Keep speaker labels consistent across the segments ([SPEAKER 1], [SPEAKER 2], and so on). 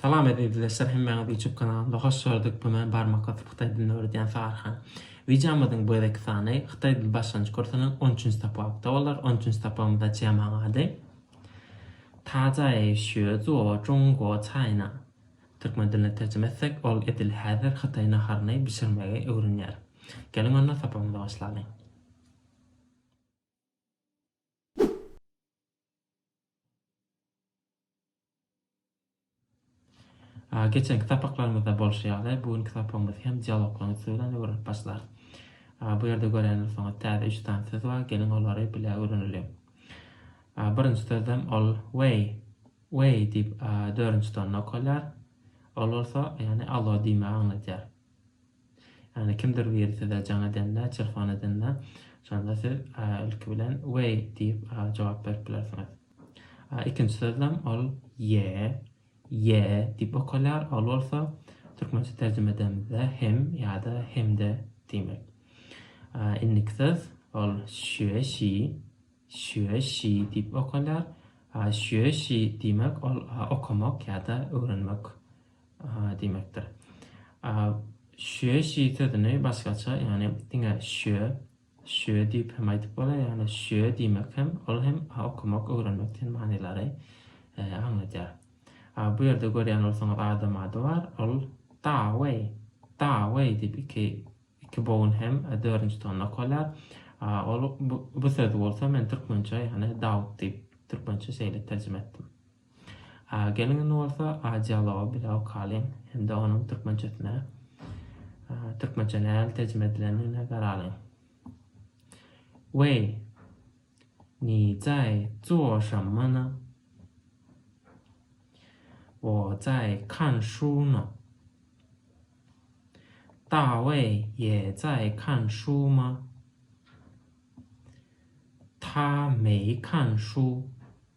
[SPEAKER 1] Salam Ezizleşler hemmäňiz YouTube kanalymda hoş gördük bu men barmak basyp hytaý dilini öwredýän Sagarhan. Wideomyzyň bu gezekki sany hytaý dil başlangyç kursunyň on üçünji sapakda bolar on üçünji sapagymyzda Jemaň ady. Ta zai xue zuo zhong guo cai na. Türkmen diline terjime etsek ol edil häzir hytaý naharyny bişirmegi öwrenýär. Geliň onda sapagymyza başlalyň. Geçenki sapaklarymyzda bolşy ýaly, bu günki sapagymyzy hem dialoglaryň üsti bilen öwrenip başlarys. Bu ýerde gören bolsaňyz, täze üç sany söz bar. Geliň, olary bile öwreneliň. Birinji sözem ol way, way diýip, dördünji tonyny okalýar. Ol bolsa, ýagny allo diýmegi aňladýar. Ýagny kimdir biri size jaň edende, telefon edende, şonda siz ilki bilen Weý diýip jogap berip bilersiňiz. Ikinji sözlem ol Ýe, Ýe diýip okalýar, ol bolsa türkmençe terjime edemizde hem ýa-da hemde diýmek. Indiki söz ol Şüe Şi, Şüe Şi diýip okalýar. Şüe Şi diýmek ol okamak ýa-da öwrenmek diýmekdir. Şüe şi sözüni başgaça, ýagny diňe şüe, şüe diýip hem aýdyp bolar, ýagny şüe diýmek hem, ol hem okamak, öwrenmek diýen manylary aňladýar. Bu ýerde görýän bolsaňyz adam ady bar, ol Da Wei, Da Wei diýip iki iki bogun hem dördünji tonna okalar. Ol bu söz bolsa men türkmençe, ýagny Dawut diýip türkmençe şeýle terjime etdim. Geliň indi bolsa dialoga bilaw kalyň hem-de onuň türkmençesine türkmençä nähili terjime edilendigine garalyň. Weý, ni zai zuo shenme ne? Wo zai kan shu ne? Da wei ye zai kan shu ma? Ta mei kan shu.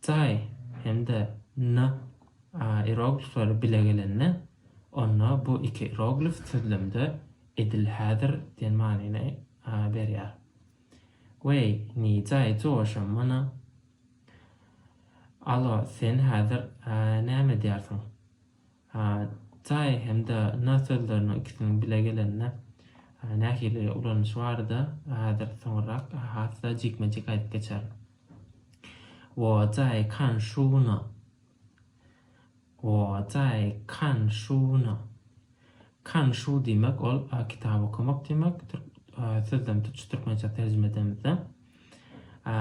[SPEAKER 1] Tsai hem-de Na a ieroglifleri bile gelende, onda bu iki ieroglif sözlemde edil häzir diýen manyny berýär. Wei, ni zai zuo shen me ne? Alo, sen häzir näme edýärsiň? Hatsaý hem-de na sözleriniň ikisiniň bile gelende nähili ulanyşy barada häzir soňrak has-da jikme-jik aýdyp geçerin. Wo zaý kan şuwna. Wo zaý kan şuwna. Kan şuw diýmek ol kitap okamak diýmek, sözlem tutuşy türkmençe terjime edemizde.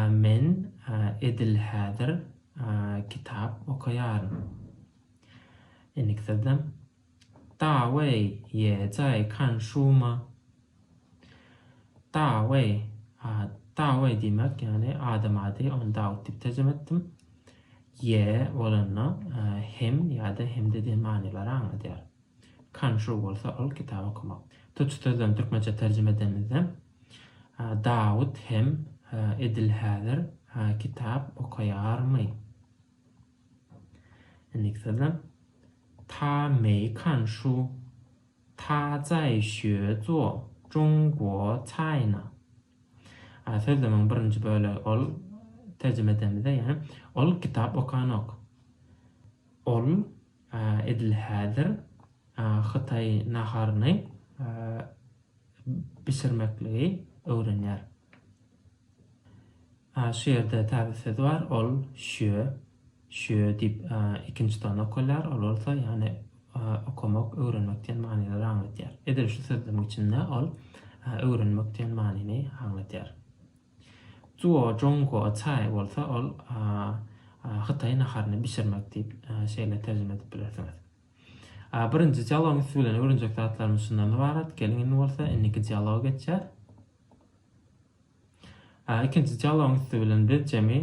[SPEAKER 1] Men edil häzir kitap okaýaryn. Indiki sözlem. Da wei ye zai kan shu ma. Da wei, Da wei diýmek, ýagny adam ady, ony Dawut diýip terjime etdim. Ye bolanda hem ýa-da hem-de diýen manylary aňladýar. Kan shu bolsa ol kitap okamak. Tutuş sözlemi türkmençe terjime edenimizde Dawut hem edil häzir kitap okaýarmy? Indiki sözlem. Ta mei kan shu. Ta zai xue zuo zhong guo cai na. A sözlemiň birinji bölegi ol terjime edemizde ýagny ol kitap okanok. Ol edil häzir hytaý naharyny bişirmekligi öwrenýär. A şu ýerde täze söz bar, ol şö, şö diýip ikinji ton okalýar, ol bolsa ýagny okamak, öwrenmek diýen manylary aňlatýar. Edil şu sözlemiň içinde ol öwrenmek diýen manyny aňlatýar. Zuo zhongguo cai bolsa ol hytaý naharyny bişirmek diýip şeýle terjime edip bilersiňiz. Birinji dialogymyz siz bilen öwrenjek zatlarymyz şundan ybarat. Geliň indi bolsa indiki dialoga geçýäs. Ikinji dialogyň üsti bilen biz jemi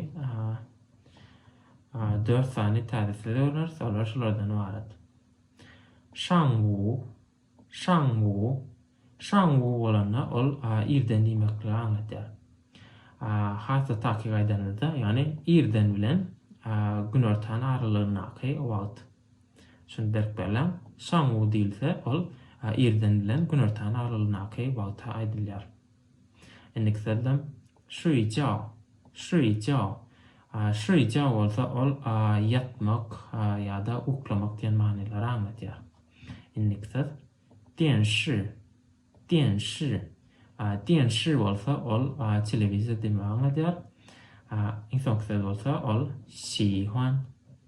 [SPEAKER 1] dört sany täze söz öwreneris, olar şulardan ybarat. Şangwu, şangwu, şangwu bolanda ol irden diýmekligi aňladýar. Has-da takyk aýdanymyzda, ýagny irden bilen günortanyň aralygyndaky wagt. Şuny berk belläň, şangwu diýilse, ol irden bilen günortanyň aralygyndaky wagta aýdylýar. Indiki sözlem, Şüý jao, şüý jao. Şüý jao bolsa ol ýatmak ýa-da uklamak diýen manylary aňladýar. Indiki söz, Dian shi, dian shi. Dian shi bolsa ol telewizor diýmegi aňladýar. Iň soňky söz bolsa ol Şi huan.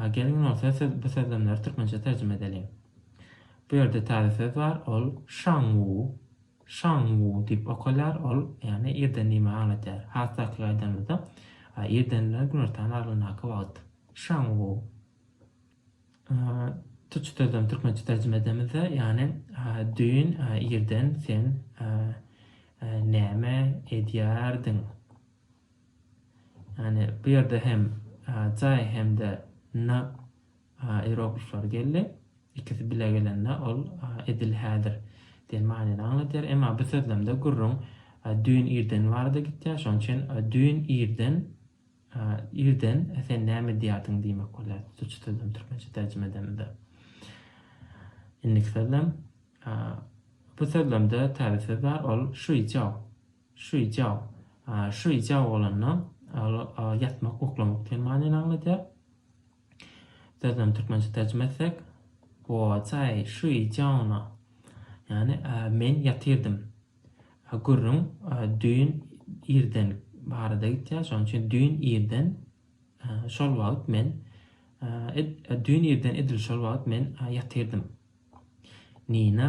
[SPEAKER 1] Geliň bolsa siz bu sözlemleri türkmençe terjime edeliň. Bu ýerde täze söz bar, ol şanwu, şanwu diýip okalýar, ol ýagny irden diýmegi aňladýar. Has takyk aýdanymyzda, irden bilen günortanyň aralygyndaky wagt. Şanwu. Tuçy sözlem türkmençe terjime edemizde, ýagny düýn irden sen näme edýärdiň? Ýagny bu ýerde hem Jaý hem-de N ieroglifleri geldi. Ikisi bile gelende ol edil häzir diýen manyny aňladýar. Emma bu sözlemde gürrüň düýn irdeni barada gitýär. Şonuň üçin düýn irden irden sen näme edýärdiň diýmek bolýar tutuçy sözlem türkmençe terjime edemizde. Indiki sözlem bu sözlemde täze söz bar ol şuýja. Şüýjao. Şüýjao bolanda, ol ýatmak, uklamak diýen manyny aňladýar. Sözüni türkmençe terjime etsek, Wo zai şüý jiao ne, ýagny men ýatyrdym. Gürrüň düýn irden barada gitýär, şonuň üçin düýn irden şol wagt men düýn irden edil şol wagt men ýatyrdym. Nina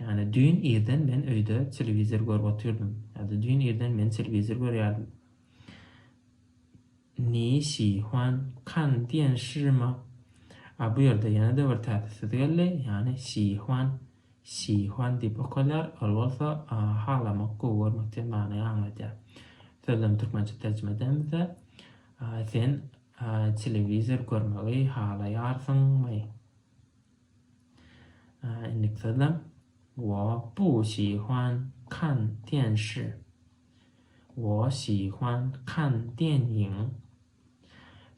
[SPEAKER 1] Ýagny düýn irden men öýde telewizor görüp otyrdym. Ýa-da düýn irden men telewizor görýärdim. Ni şi huan kan diýen şirima. A bu ýerde ýene-de bir täze söz geldi, ýagny şi huan, şi huan diýip okalýar, ol bolsa halamak, gowy görmek diýen many aňladýar. Sözlem türkmençe terjime edemizde, Sen telewizor görmegi halaýarsyňmy? Indiki sözlem. Wo bu xi huan kan dian shi. Wo xi huan kan dian yin.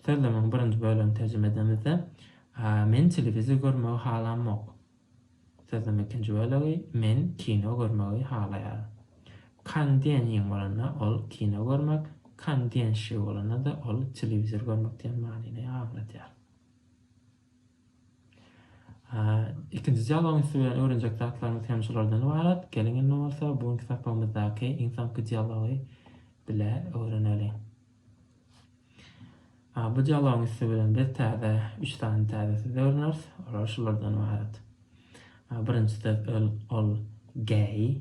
[SPEAKER 1] Sözlemiň birinji bölegini terjime edemizde, Men telewizor görmegi halamok. Sözlemiň ikinji bölegi, Men kino görmegi halaýaryn. Kan dian yin bolanda ol kino görmek, kan dian shi bolanda-da ol telewizor görmek diýen manyny aňladýar. Ikinji dialogyň üsti bilen öwrenjek zatlarymyz hem şulardan ybarat. Geliň indi bolsa bu günki sapagymyzdaky iň soňky dialogy bile öwreneli. Bu dialogyň üsti bilen biz täze üç sany täze söz öwreneris. Olar şulardan ybarat. Birinji söz ol gay,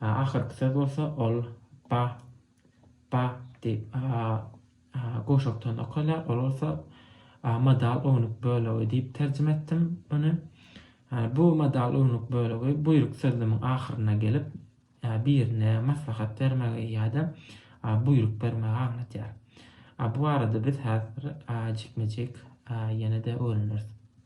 [SPEAKER 1] A ahyrky söz bolsa ol ba, ba diýip a, a guşakdan okalýar, ol bolsa a modal ownuk bölegi diýip terjime etdim muny. A bu modal ownuk bölegi buýruk sözlemiň ahyryna gelip, a birine maslahat bermegi ýa-da a buýruk bermegi aňladýar. A bu barada biz häzir a jikme-jik a ýene-de öwreneris.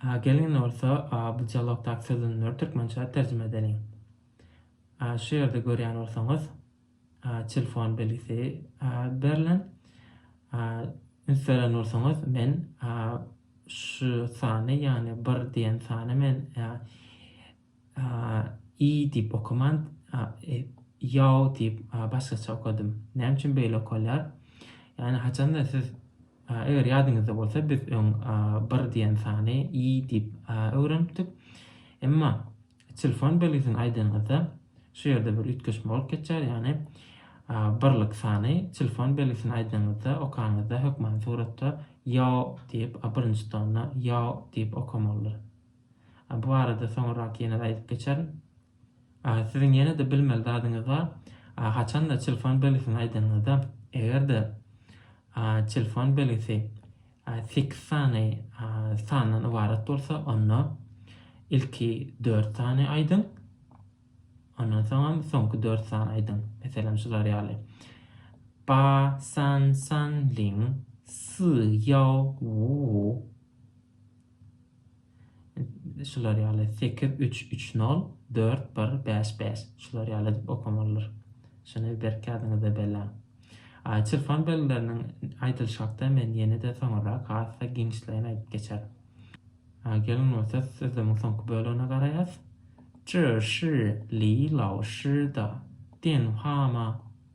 [SPEAKER 1] A gelin bolsa A bu dialogdaky sözlenmleri türkmençä terjime edeliň. A şu ýerde görýän bolsaňyz A telefon belgisi A berlen. A üns beren bolsaňyz men A şu sany ýagny bir diýen sany men A I diýip okaman, ýaw diýip başgaça okadym. Näme üçin beýle okalýar? Ýagny haçanda siz, eger ýadyňyzda bolsa, biz öň bir diýen sany i diýip öwrenipdik. Emma telefon belgisini aýdanyňyzda, şu ýerde bir üýtgeşme bolup geçýär, ýagny birlik sany telefon belgisini aýdanyňyzda, okanyňyzda hökmany suratda ýaw diýip, birinji tonna ýaw diýip okamalydyr. Bu barada soňurrak ýene-de aýdyp geçerin. Siziň ýene-de bilmeli zadyňyz bar. Haçan-da telefon belgisini aýdanyňyzda, eger-de telefon belgisi sekiz sany sandan ybarat bolsa, onda ilki dört sany aýdyň, ondan soňam soňky dört sany aýdyň. Meselem, şular ýaly, Ba, san, san, ling, si, ýao, wu, wu. Şular ýaly, sekiz, üç, üç, nol, dört, bir, bäş, bäş. Şular ýaly edip okamalydyr. Şuny berk ýadyňyzda belläň. Çirpan belgileriniň aýdylyşy hakda men ýene-de soňurrak has-da giňişleýin aýdyp geçerin. Geliň bolsa sözlemiň soňky bölegine garaýas. Zhe shi li lao shi de dian hua ma.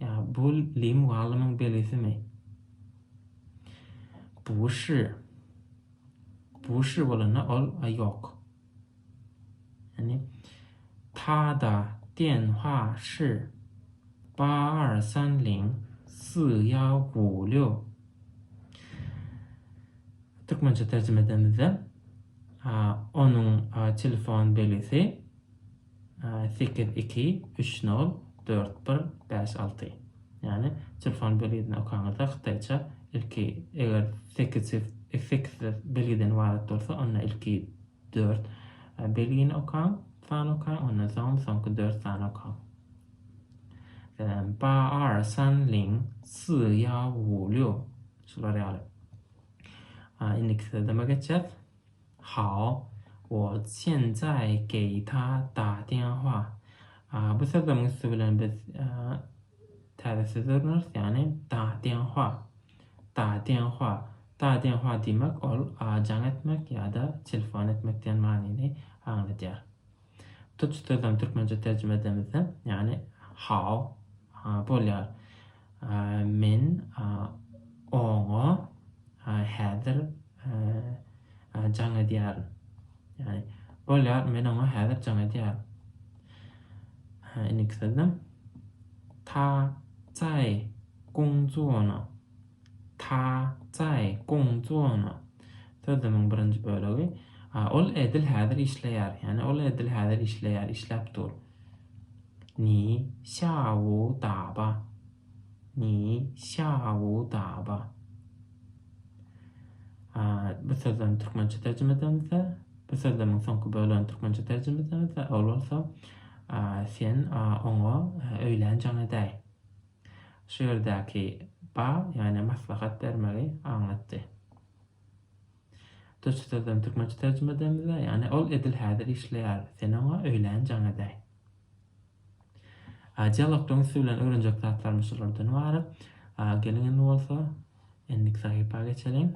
[SPEAKER 1] Ýa bu Li mugallymyň belisimi? Buşy. Buşy bolanda ol a ýok. Ýani Tada, Dian, Hua, Shi, Ba, Er, San, Ling, Si, Ýao, Gu, Liu. Türkmençe terjime edemizde, onuň telefon belisi. Sekiz iki üç nol dört bir bäş alty Ýagny telefon belgisini okaňyzda hytaýça ilki eger sekiz sekiz belgiden ybarat bolsa onda ilki dört belgini okaň sany okaň ondan soň soňky dört sany okaň Ba er san ling si ýa wu liu şular ýaly Indiki sözleme geçýäs. Hao, wo xian zai gei ta da dian hua. Bu sözleriň üsti bilen biz täze söz öwreneris, ýagny da dian hua. Da dian hua. Da dian hua diýmek ol jaň etmek ýa-da telefon etmek diýen manyny aňladýar. Tuts sözüni türkmençe terjime edemizde, ýagny how bolýar. Men oňa häzir jaň edýärin. Ýagny bolýar, men oňa häzir jaň edýärin. Indiki sözde ta zaý gongzuo ne. Ta, Cai, Gong, Zuona. Sözlemiň birinji bölegi. Ol edil häzir işleýär. Ýagny ol edil häzir işleýär, işläp dur. Ni, Xiaowu, Daba. Ni, Xiaowu, Daba. Bu sözlemi türkmençe terjime edemizde, bu sözlemiň soňky bölegini türkmençe terjime edemizde, ol bolsa, sen oňa öýlän jaň edäý. şu ýerdäki ba, ýagny maslahat bermegi aňlatdy. Türkçe sözlem türkmençe terjime edemizä, ýagny ol edil häzir işleýär, sen oňa öýlän jaň edäý. A, dialogdan üsti bilen öwrenjek zatlarymyz şulardan ybarat. A, geliň indi bolsa indiki sahypa geçeliň.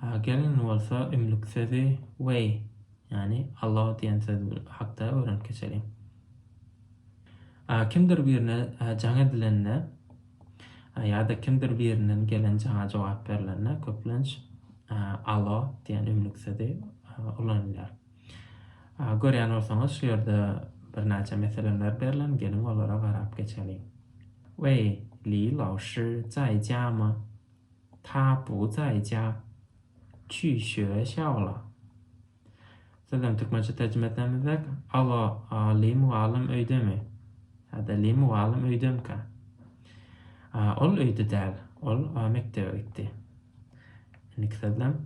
[SPEAKER 1] A gelin bolsa ümlük sözi Weý, ýagny Allah diýen söz hakda öwrenip geçeliň. A kimdir birine jaň edilende ýa-da kimdir birinden gelen jaňa jogap berlende köplenç Allah diýen ümlük sözi ulanylýar. Görýän bolsaňyz şu ýerde birnäçe meseleler berlen geliň olara garap geçeliň. Weý, Li Lao Shi zaý jiamy? Ta bu zaý jia? Çü şue şao la? Sözem türkmençe terjime etmezek, alo, Li mugallym öýdemi? Hä-de, Li mugallym öýdemka? Ol öýde däl, ol mekdebe gitdi. Indiki sözlem,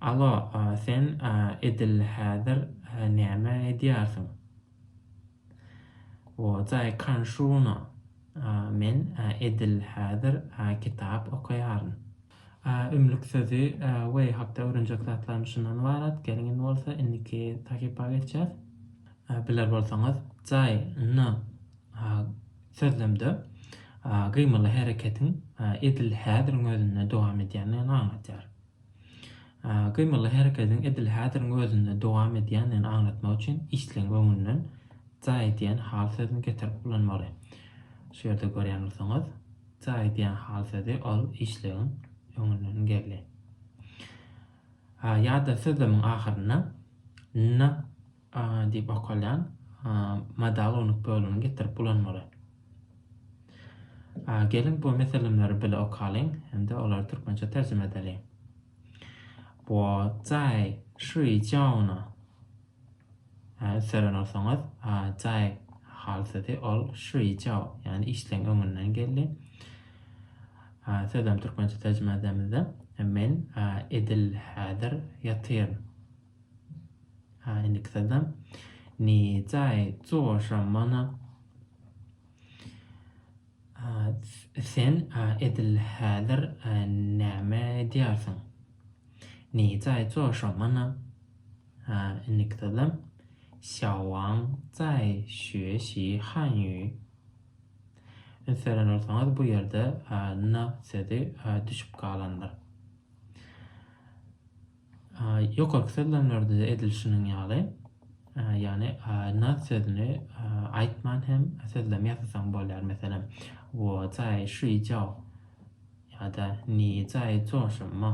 [SPEAKER 1] Alo sen edil häzir näme edýärsiň? O jaý kanşuna men edil häzir kitap okaýaryn. Ümlük sözi we hakda öwrenjek zatlarym şundan ybarat, geliň indi bolsa indiki sahypa geçýäs. Biler bolsaňyz jaý ny sözlemde gymyly hereketiň edil häziriň özünde dowam edýändigini aňladýar. Gymyly hereketiň edil häziriň özünde dowam edýändigini aňlatmak üçin işleň öňünden ja edýän hal sözüni getirip ulanmaly. Şu ýerde görýän bolsaňyz, ja edýän hal sözi ol işlegiň öňünden geldi. Ýa-da sözlemiň ahyrynda na diýip okalýan modal unuk bölümini getirip ulanmaly. Geliň bu meselemleri bile okalyň hem-de olary türkmençe terjime edeliň. Wo zai şri jauna. Ünseren olsaňyz, zai hal sözi ol şri jau, ýagny işleň öňünden geldi. Sözem türkmençe terjime edemizde, men edil häzir ýatyryn. Ha indiki sazam. Ne jaý coşa mana. Sen edil häzir näme edýärsiň? Ne jaý coşa mana. Ha indiki sazam. Şawaň jaý şüe şi han ýü. Ünseren bolsaňyz bu ýerde na sözi düşüp galandyr. Ýokarky sözlemlerde edilişiniň ýaly, ýagny na sözüni aýtman hem sözlem ýasasaň bolýar, meselem, wo zaý şuý jao ýa-da ni zaý zuo shen ma.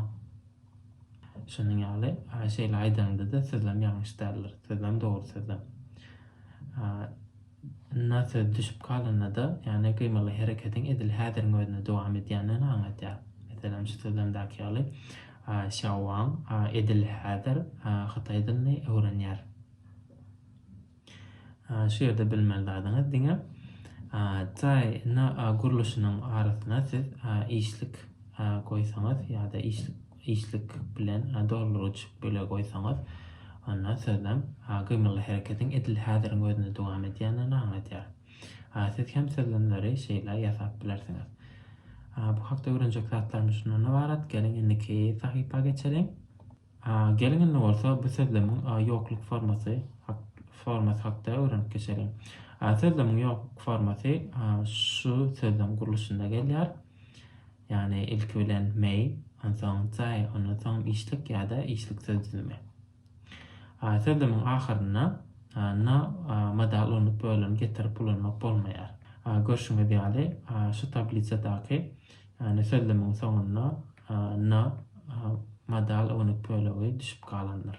[SPEAKER 1] Şunuň ýaly şeýle aýdaňda-da sözlem ýalňyş däldir, sözlem dogry sözlem. Ynha söz düşüp galanda-da, ýagny gymyly hereketiň edil häziriň özünde dowam edýändigini aňladýar. Meselem, şu sözlemdäki ýaly, Şýao Waň edil häzir hytaý dilini öwrenýär. Şu ýerde bilmeli zadyňyz diňe Taý na gurluşynyň arasyna siz işlik goýsaňyz ýa-da işlik işlik bilen dolduryjy bölegi goýsaňyz, onda sözlem gymylly hereketiň edil häziriň özünde dowam edýändigini aňladýar. Siz hem sözlemleri şeýle ýasap bilersiňiz. Bu hakda öwrenjek zatlarymyz şundan ybarat, geliň indiki sahypa geçeliň. Geliň indi bolsa bu sözlemiň ýokluk formasy formasy hakda öwrenip geçeliň. Sözlemiň ýokluk formasy şu sözlem gurluşynda gelýär. Ýagny ilki bilen mei, onsoň zai, ondan soň işlik ýa-da işlik söz düzümi. A söz düzümiň ahyrynda na modal ulanmak bölümini getirip ulanmak bolmaýar. Görşüňiz ýaly, şu tablisadaky ýagny söz düzümiň soňunda na modal ulanmak bölegi düşüp galandyr.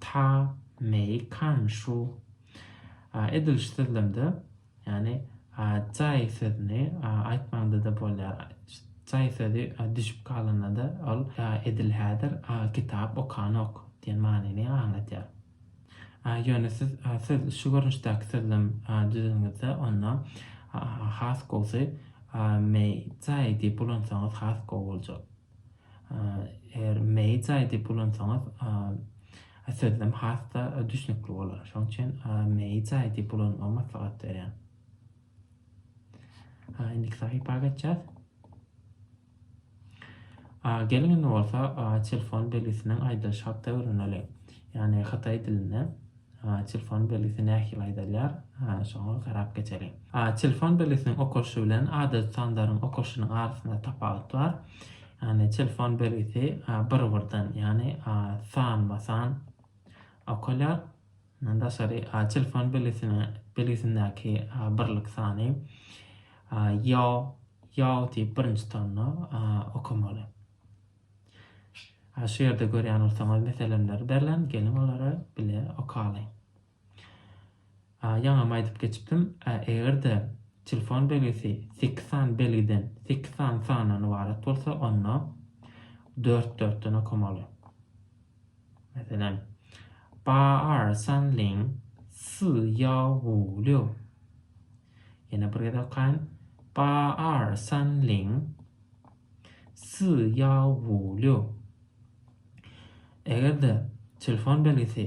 [SPEAKER 1] Ta mei kan shu. Edil şu sözlemde, ýagny jaý sözüni aýtmagyňda-da bolýar. Jaý sözi düşüp galanda-da ol edil häzir kitap okanok diýen manyny aňladýar. Ýöne siz şu görnüşdäki sözlem düzediňizde, onda has gowusy mei jaý diýip ulansaňyz has gowy boljak. Eger meýjaý diýip ulansaňyz, sözlem has-da düşnükli bolar. Şonuň üçin meýjaý diýip ulanmagy maslahat berýän. Indiki sahypa geçýäs. Geliň indi bolsa telefon belgisiniň aýdylyş haty öwreneli. Ýagny hytaý dilinde. Telefon belgisi nähili aýdylýar? Şoňa garap geçeliň. Telefon belgisiniň okalyşy bilen adaty sanlaryň okalyşynyň arasynda tapawut bar. Ýagny telefon belgisi bir-birden, ýagny sanma-san okalýar. Mundan daşary telefon belgisine belgisindäki birlik sany ýo, ýo diýip birinji tonyna okamaly. Hä şu ýerde görýän bolsaňyz meselemleri derlen geliň olary bile okaly. Ýaňam aýdyp geçipdim egerde telefon belgisi sekiz sany belgiden sekiz sany sandan ybarat bolsa onda dört dörtden okamaly. Meselem ba ar san ling si ýao wu liu Ýene bir gezek okaýyn ba ar san ling Sýaowulio. Eger-de telefon belgisi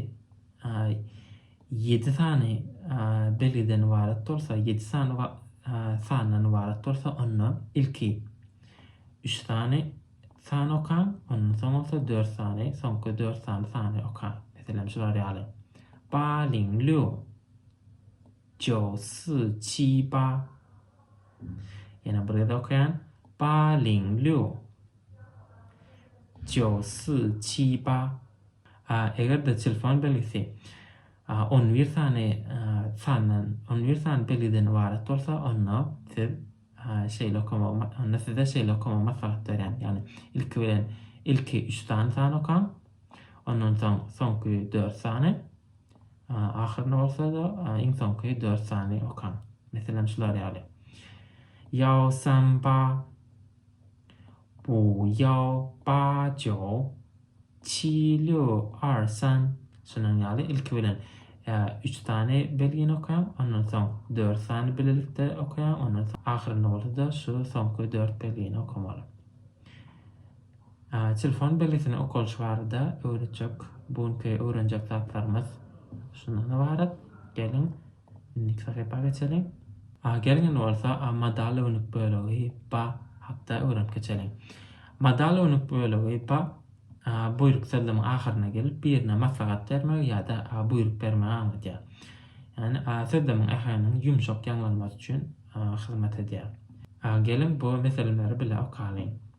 [SPEAKER 1] ýedi sany belgiden ybarat bolsa, ýedi sany sandan ybarat bolsa, onda ilki üç sany sany okaň, ondan soň bolsa dört sany, soňky dört sany sany okaň. Meselem, şular ýaly. Ba ling liu. Jiao si qi ba. Ýene bir gezek okaýan. Ba ling liu. Jiu si qi ba. Eger-de telefon belgisi 11 sany sandan, 11 sany belgiden ybarat bolsa, onda siz şeýle okamagy, onda size şeýle okamagy maslahat berýän. Ýagny ilki bilen ilki 3 sany san okaň. Ondan soň soňky 4 sany Ahyryny bolsa-da iň soňky dört sany okaň. Meselem şular ýaly. Ýao san ba. Bu ýao ba jiao. Çi liu ar san. Şunuň ýaly ilki bilen üç sany belgini okaň, ondan soň dört sany bilelikde okaýaň, ondan soň ahyrynda bolsa-da şu soňky dört belgini okamaly. Telefon belgisini okalyş barada öwretjek bu günki öwrenjek zatlarymyz şundan ybarat. Geliň, indiki sahypa geçeliň. Geliň indi bolsa modal önük bölegi ba hakda öwrenip geçeliň. Modal önük bölegi ba buýruk sözlemiň ahyryna gelip birine maslahat bermegi ýa-da buýruk bermegi aňladýar. Ýagny sözlemiň äheňiniň ýumşak ýaňlanmasy üçin hyzmat edýär. Geliň bu meseleleri bile okalyň.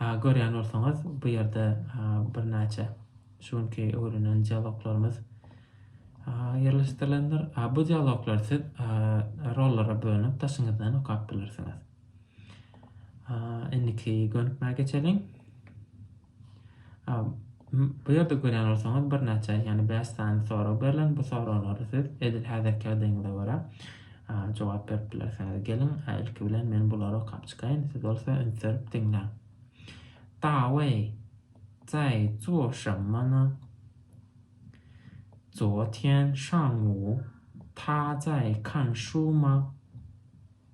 [SPEAKER 1] Görýän bolsaňyz, bu ýerde birnäçe şu günki öwrenen dialoglarymyz ýerleşdirilendir. Bu dialoglary siz rollara bölünip daşyňyzdan okap bilersiňiz. Indiki gönükmä geçeliň. Bu ýerde görýän bolsaňyz birnäçe, ýagny bäş sany sorag berlen. Bu soraglara siz edil häzirki ýagdaýyňyza görä jogap berip bilersiňiz. Geliň, ilki bilen men bulary okap çykaýyn, siz bolsa üns berip diňläň. Dawei, zai zuo shenme ne? Zuo tian shang wu ta zai kan shu ma?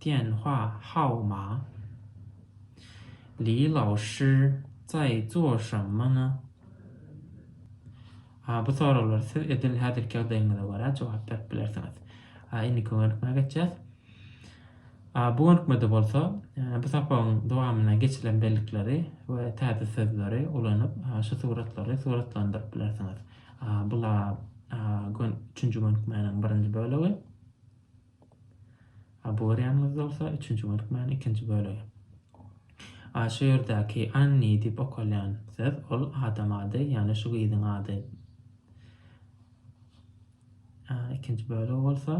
[SPEAKER 1] Tianhua Hao Ma, Li Lao Shi, Cai Zuo Sheng Men. A bu soraglara siz edil häzirki ýagdaýyňyza görä jogap berip bilersiňiz. A indiki gönükmä geçýäs. A bu gönükmede bolsa bu sapagyň dowamynda geçilen bellikleri we täze sözleri ulanyp şu suratlary suratlandyryp bilersiňiz. A bula üçünji gönükmäniň birinji bölegi. A bu görýäniňiz bolsa üçünji bölükmäniň ikinji bölegi. A şu ýerdäki Anni diýip okalýan söz ol adam ady, ýagny şu gyzyň ady. A ikinji bölegi bolsa,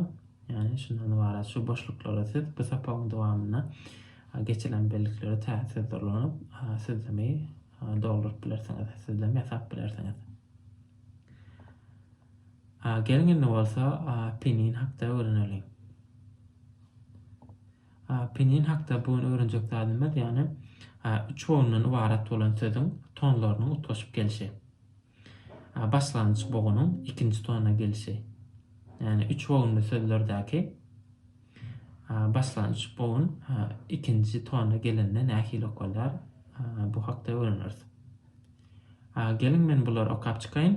[SPEAKER 1] ýagny şundan ybarat şu boşluklara siz bu sapagyň dowamynda geçilen bellikleri tä sözde ulanyp sözlemi dolduryp bilersiňiz, sözlem ýasap bilersiňiz. Geliň indi bolsa Penin hakda öwreneliň. Penin hakda bu gün öwrenjek zadymyz ýagny üç bogundan ybarat bolan sözüň tonlarynyň utgaşyp gelişi. Başlangyç bogunyň ikinji tona gelişi. Ýagny üç bogunly sözlerdäki başlangyç bogun ikinji tona gelende nähili okalýar bu hakda öwreneris. Geliň men bulary okap çykaýyn.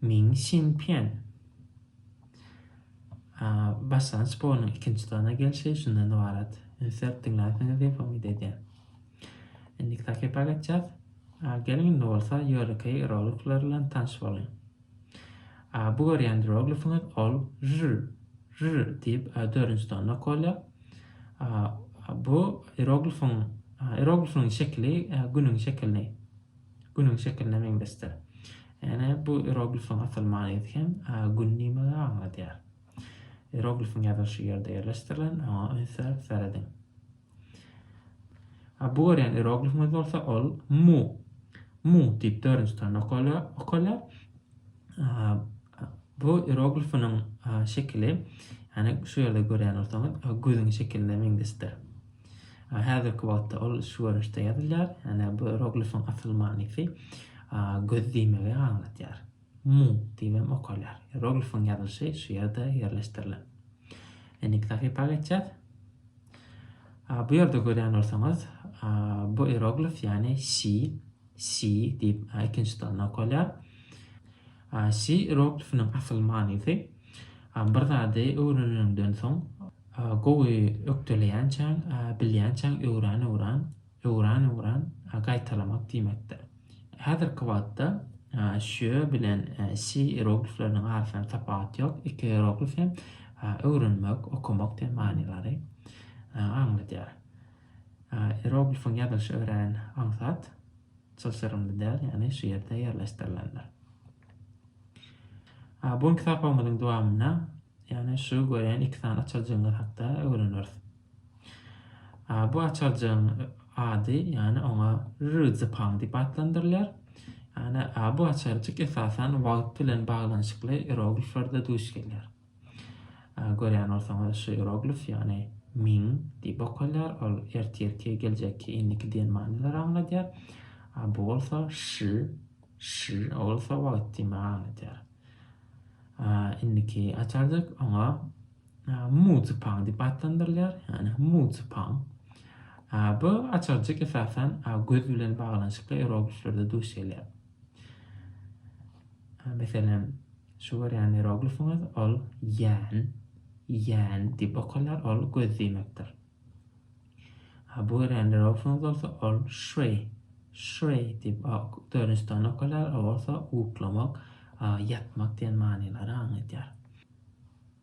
[SPEAKER 1] Min Sin Pýen başdan sportuň ikinji turyna gelşi şundan ybarat. Sert diňlänsiňiz diýip umyt edýän. Indiki takypa geçýäs. Geliň indi bolsa ýörite hieroglifler bilen tanş boluň. Bu görýän hieroglifiňiz ol žül, žül diýip dördünji tonna kolýa. Bu hieroglifiň hieroglifiň şekili günüň şekilini Günüň şekiline meňzeşdir. Ýöne bu ieroglifiň asyl manydy hem Gün nimegi aňladýar? Ieroglifiň ýazylyşy ýerde ýerleşdirilen, oňa üns berip serediň. A bu görýän ieroglifiňiz bolsa ol Mu. Mu diýip dördünji sanda okalýar. Bu ieroglifiniň şekili, ýagny şu ýerde görýän bolsaňyz, gözüň şekiline meňzeşdir. Häzirki wagtda ol şu görnüşde ýazylýar, ýagny bu ieroglifiň asyl manysy göz diýmegi aňladýar. Mu diýip hem okalýar. Ieroglifiň ýazylyşy şu ýerde ýerleşdirilen. Indiki sahypa geçýäs. Bu ýerde görýän bolsaňyz, bu ieroglif, ýagny si, si diýip ikinji tonna okalýar. Şi ieroglyfiniň asyl manysy, Bir zady öwreneniňden soň, gowy ökdeleýänçäň, bilýänçäň öwran-öwran, öwran-öwran gaýtalamak diýmekdir. Häzirki wagtda şö bilen şi ieroglifleriniň arasynda tapawut ýok, iki ieroglif hem öwrenmek, okamak diýen manylary aňladýar. Ieroglifiň ýazylyşy örän aňsat. Çylşyrymly däl, ýagny şu ýerde ýerleşdirilendir. Bu günki sapagymyzyň dowamynda, ýagny şu görýän iki sany açarjygymyz hakda öwreneris. Bu açarjygyň ady, ýagny oňa Rüzipang diýip atlandyrylýar. Ýagny bu açarjyk esasan wagt bilen baglanyşykly irogliflerde duş gelýär. Görýän bolsaňyz, şu ieroglif, ýagny Ming diýip okalýar, ol ertirki, geljekki, indiki diýen manylary aňladýar. A bu bolsa Ş, Ş, o bolsa wagt diýmegi aňladýar. Indiki açarjyk oňa Mu Zipang diýip atlandyrylýar, ýagny Mu Zipang. Bu açarjyk esasan göz bilen baglanyşykly ierogliflerde duş gelýär. Meselem, Şu görýän ieroglifiňiz ol ýän, ýän, diýip okalýar, ol göz diýmekdir. Ha bu görýän ieroglifiňiz bolsa ol şre, şre, diýip dördünji sany okalýar, ol bolsa uklamak, ýatmak diýen manylara aňladýar.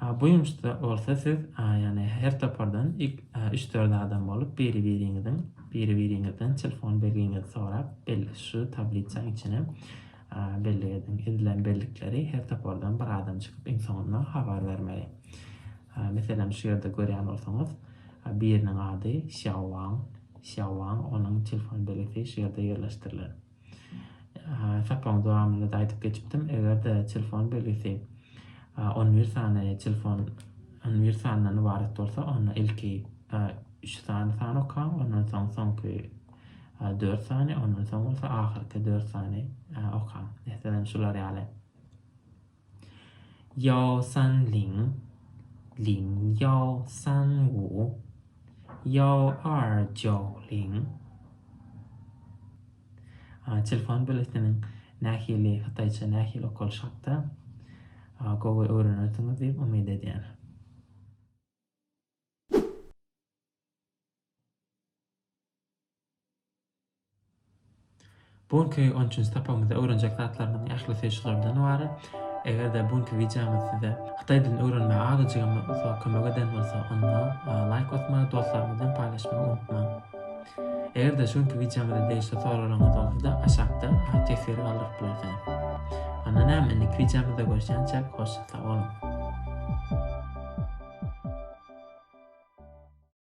[SPEAKER 1] A bu ýumuşda bolsa siz ýagny her topardan ilk üç-dört adam bolup biri-biriňiziň biri-biriňizden telefon belgiňizi sorap belli şu tablitsaň içine bellik ediň. Edilen bellikleri her topardan bir adam çykyp iň soňunda habar bermeli. Meselem şu ýerde görýän bolsaňyz biriniň ady Xiao Wang, Xiao Wang onuň telefon belgisi şu ýerde ýerleşdirilen. Sapagyň dowamynda-da aýdyp geçipdim, eger-de telefon belgisi on bir sany telefon on bir sandan ybarat bolsa, onda ilki üç sany sany okaň, ondan soň soňky dört sany, ondan soň bolsa ahyrky dört sany okaň. Meselem, şular ýaly. Ýao San Ling, Lin Ýao San Wu, Ýao Er Jiao Ling. Telefon biletiniň nähili hytaýça nähili okalyşy hakda gowy öwrenersiňiz diýip umyt edýän. Bu günki on üçünji sapagymyzda öwrenjek zatlarymyzyň ählisi şulardan ybarat. Eger-de bu günki wideomyz size hytaý dilini öwrenmäge azajygam bolsa kömek eden bolsa, onda laýk basmagy, dostlaryňyz bilen paýlaşmagy unutmaň. Eger-de şu günki wideomyza degişli soraglaryňyz bolsa-da, aşakda teswir galdyryp bilersiňiz. Onda näme, indiki wideomyzda görüşýänçäk, hoşça sag boluň!